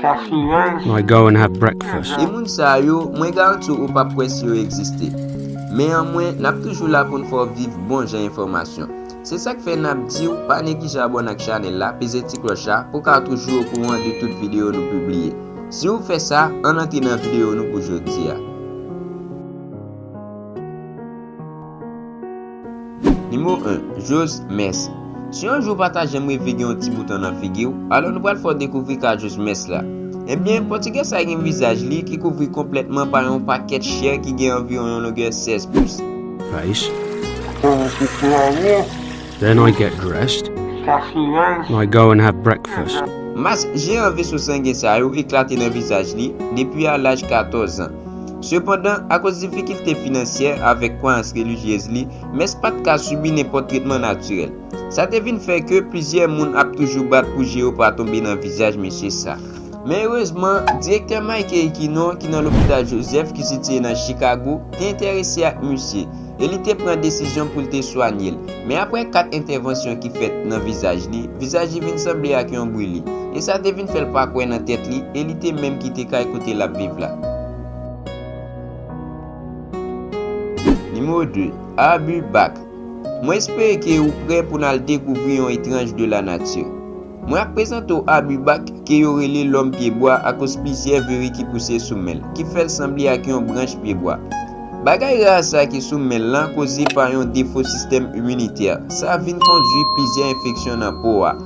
Mwen go and have breakfast. E moun sa yo, mwen garanti w ou pap kwè si yo egziste. Men an mwen, n ap toujou la pou n fè w viv bon jan enfòmasyon. Se sa k fè n ap di w pa neglije abòne ak chanèl la, peze ti klòch la pou w ka toujou okouran de tout videyo nou pibliye. Si w fè sa, ann antre nan videyo nou pou jodi a. Nimewo 1, Jose Mès Si yon jou ou pa ta janm reve gen yon ti bouton nan figi w, alò nou pral fè w dekouvri ka Jose Mès la. Ebyen, Pòtigè sa gen vizaj li ki kouvri konplètman pa yon pakèt chè ki gen anviwon yon longè 16 pous. Face. Then I get dressed. Now I go and have breakfast. Mas jeyan veso sangen sa yo eklate nan vizaj li, depi a laj 14 an. Sepandan, akoz difikilte finansyè avèk kwayans relijyez li, Mès pa t ka sibi nenpòt tretman natirèl. Sa te vin fè ke plizyè moun ap toujou bat pou je yo pa tonbe nan vizaj mesye sa. Men erezman, Direktè Mike Eikinon, ki nan Lopital Joseph, ki sitiye nan Chikago, te enterese ak misye. e li te pran desizyon pou l te swanye l. Men apre kat entèvansyon ki fèt nan vizaj li, vizaj li vin sanble ak yon brili, e sa te vin fè l pa kwè nan tèt li e li te menm kite kay kote l ap viv la. Nimewo 2, Abu Bakr, Mwen espere ke ou prè pou n al dekouvri yon etranj de lanati. Mwen ap prezante w Abibak, ke yo rele lòm pye bwa akoz plizyè viri ki pouse sou men l, ki fè l sanble ak yon branch pye bwa. Bagay ra sa ki sou men l lan koze pa yon defo sistèm iminitè, sa vin kondwi plizyè enfeksyon nan po a.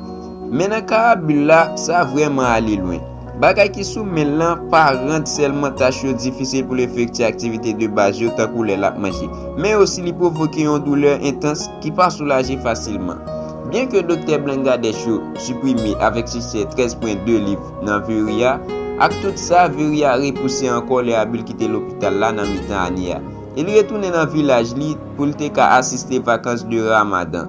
Men nan ka Abul la, sa vrèman ale lwen. Bagay ki sou men l lan pa rann sèlman tach yo difisil pou l efekti aktivite de baz yo tankou lè l ap manje, men osi li pwovoke yon doulè entans ki pa soulaje fasilman. Byenke Doktè Blangadèch yo siprime avèk siksè 13 pwen 2 liv nan Viri a, ak tout sa, Viri a repouse ankò lè Abil kite lopital la nan mitan ane a e li retounen nan vilaj li pou l te ka asiste vakans de Ramadan.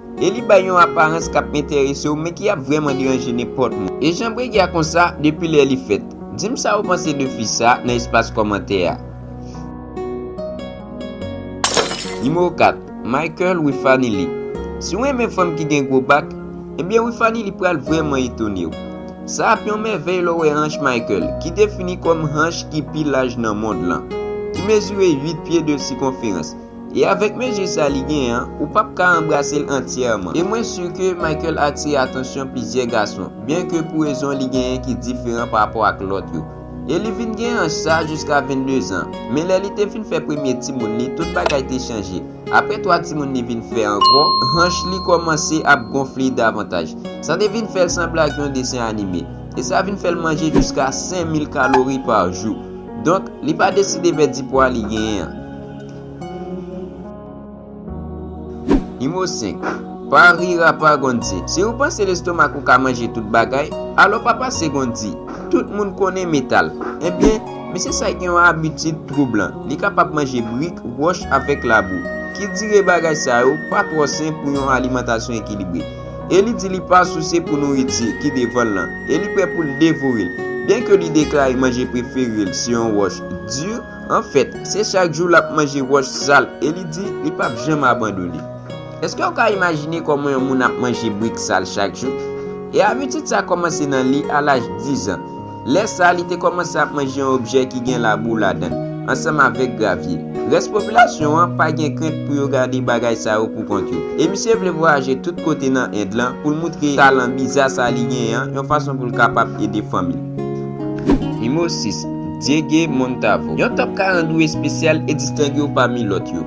E li bay yon aparans k ap enterese w men ki ap vrèman deranje nenpòt moun. E jan Bregi a konsa depi lè li fèt? Di m sa ou panse de fi sa nan espas kòmantè a. Nimewo 4, Michael Wifanilly Si w renmen fanm ki gen gwo bak, ebyen Wifanilly pral vrèman etone w. Sa ap yon mèvèy lè w wè hanch Michael, ki defini kòm hanch ki pi laj nan mond lan, ki mezire 8 pye 2 sikonferans. E avèk mezi sa li gen an, ou pap ka anbrase l antyèman. E mwen si ke Michael atire atansyon plizyè gason, byen ke pou rezon li genyen ki diferan pa rapò ak lòt yo. E li vin gen anj sa jiska 22 zan. Men lè li te fin fè premye timoun li, tout bagay te chanje. Aprè 3 timoun li vin fè ankò, hanch li kòmanse ap gonfle davantaj. Sa te vin fè l sanble ak yon desen anime. E sa vin fè l manje jiska 5000 kalori pa jou. Donk, li pa deside pèdi pwa li genyen an. Nimo 5, Pa rir a pa Gondzy, si ou panse lestomak ou ka manje tout bagay, alò pa pase Gondzy, tout moun konnen metal, ebyen, mesye sa gen yon abitid twoublan, li kapab manje brik, wòch avèk labou, ki dire bagay sa yo pa twò sen pou yon alimantasyon ekilibre, e li di li pa souse pou nouriti ki devan l lan, e li prè pou l devore l, byen ke li deklare manje prefere l se yon wòch dur, Anfèt, se chak jou l ap manje wòch sal e li di li pap janm abandone. Èske w ka imajine kòman yon moun ap manje brik sal chak jou? E abitid sa kòmanse nan li a laj dizan. Lè sa a, li te kòmanse ap manje yon objè ki gen labou ladan l, ansanm avèk gravye. Rès popilasyon an pa gen krent pou yo gade bagay sa yo poukont yo. E misye vle vwayaje tout kote nan End lan pou l moutre talan biza sa li genyen an yon fason pou l kapab ede fanmi l. Nimewo 6, Diégue Montavo Yon top 42 espesyal e distenge w pami lòt yo.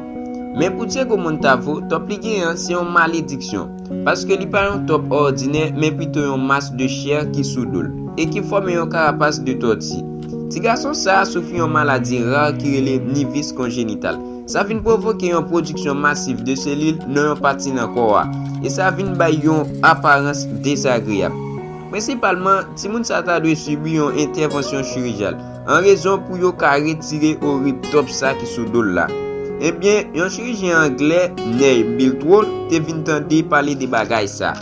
Men pou Diégue Montavo, top li genyen an se yon malediksyon, paske li pa yon top òdinè men pito yon mas de chè ki sou do l e ki fòme yon karapas de tòti. Ti gason sa a soufri yon maladi ra ki rele nivis konjenital. Sa vin pwovoke yon pwodiksyon masif de selil nan yon pati nan kò a, e sa vin bay yon aparans dezagreyab. Prensipalman, timoun sa ta dwe sibi yon entèvansyon chirijal, an rezon pou yo ka retire orib tòp sa ki sou do l la. Ebyen, yon chirijyen anglè, Ney Biltwood, te vin tande pale de bagay sa.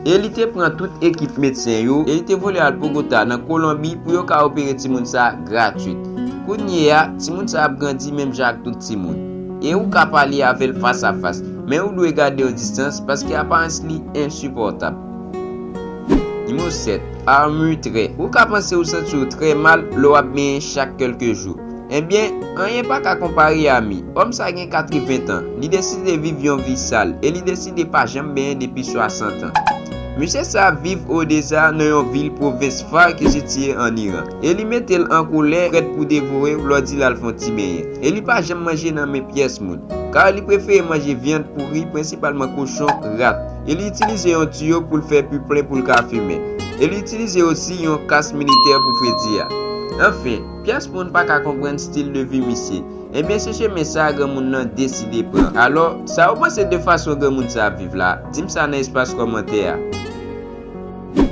E li te pran tout ekip medsen yo, e li te vole al Bogota, nan Kolonbi, pou yo ka opere timoun sa gratwit. Kounyeya, timoun sa ap grandi menm jan ak tout timoun. E ou ka pale avè l fas a fas, men ou dwe gade yon distans, paske aparans li ensipòtab. Nimewo 7, Armure Trè ou ka panse ou santi w trè mal lè w ap benyen chak kèlke jou. Enbyen, anyen pa ka konpare a mi. Òm sa gen 80 tan, li deside viv yon vi sal e li deside pa janm benyen depi 60 an. Mesye sa a viv Odesa nan yon vil pwovens Far ki sitiye ann Iran e li mete l an kolè prèt pou devore w lè w di l al fè yon ti benyen. E li pa janm manje nan men pyès moun, kar li prefere manje vyann pouri, prensipalman kochon, rat. e li itilize yon tiyo pou l fè pi plen pou l ka fimen, e li itilize osi yon kas militè pou fredi a. Anfen, pyès moun pa ka konprann stil de vi misye. Ebyen se chemen sa a granmoun nan deside pran. Alò, sa ou panse de fason granmoun sa a ap viv la? Di m sa nan espas kòmantè a.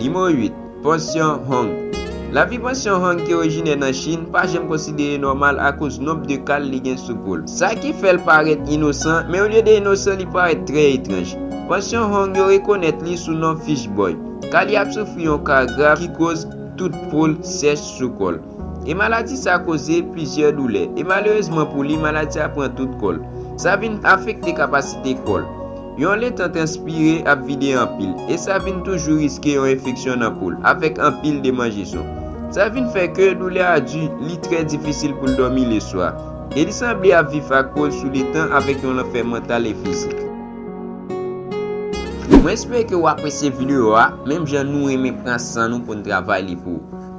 Nimewo 8. Pansyon Hong. Lavi pansyon Hong ki orijinè nan Chin pa janm konsidere nòmal akoz nonb de kal li gen sou po l. Sa ki fè l parèt inosan, men olye de inosan li parèt trè etranj. Pansyon Hong yo rekonèt li sou non Fish Boy, ka li ap soufri yon ka grav ki koz tout po l sèch sou kò l. E maladi sa koze plizyè doulè. E malerezman pou li, maladi sa pran tout kò l. Sa vin afekte kapasite kò l. Yon letan transpire ap vide anpil. E sa vin toujou riske yon enfeksyon nan po l, avèk anpil demanjeson. Sa vin fè ke doulè a di, li trè difisil pou l dòmi leswa. E li sanble ap viv ak po l sou letan avèk yon lanfè mantal e fizik. Mwen espere ke ou apresye videyo a, menm jan nou renmen pran san nou pou n travay li pou ou.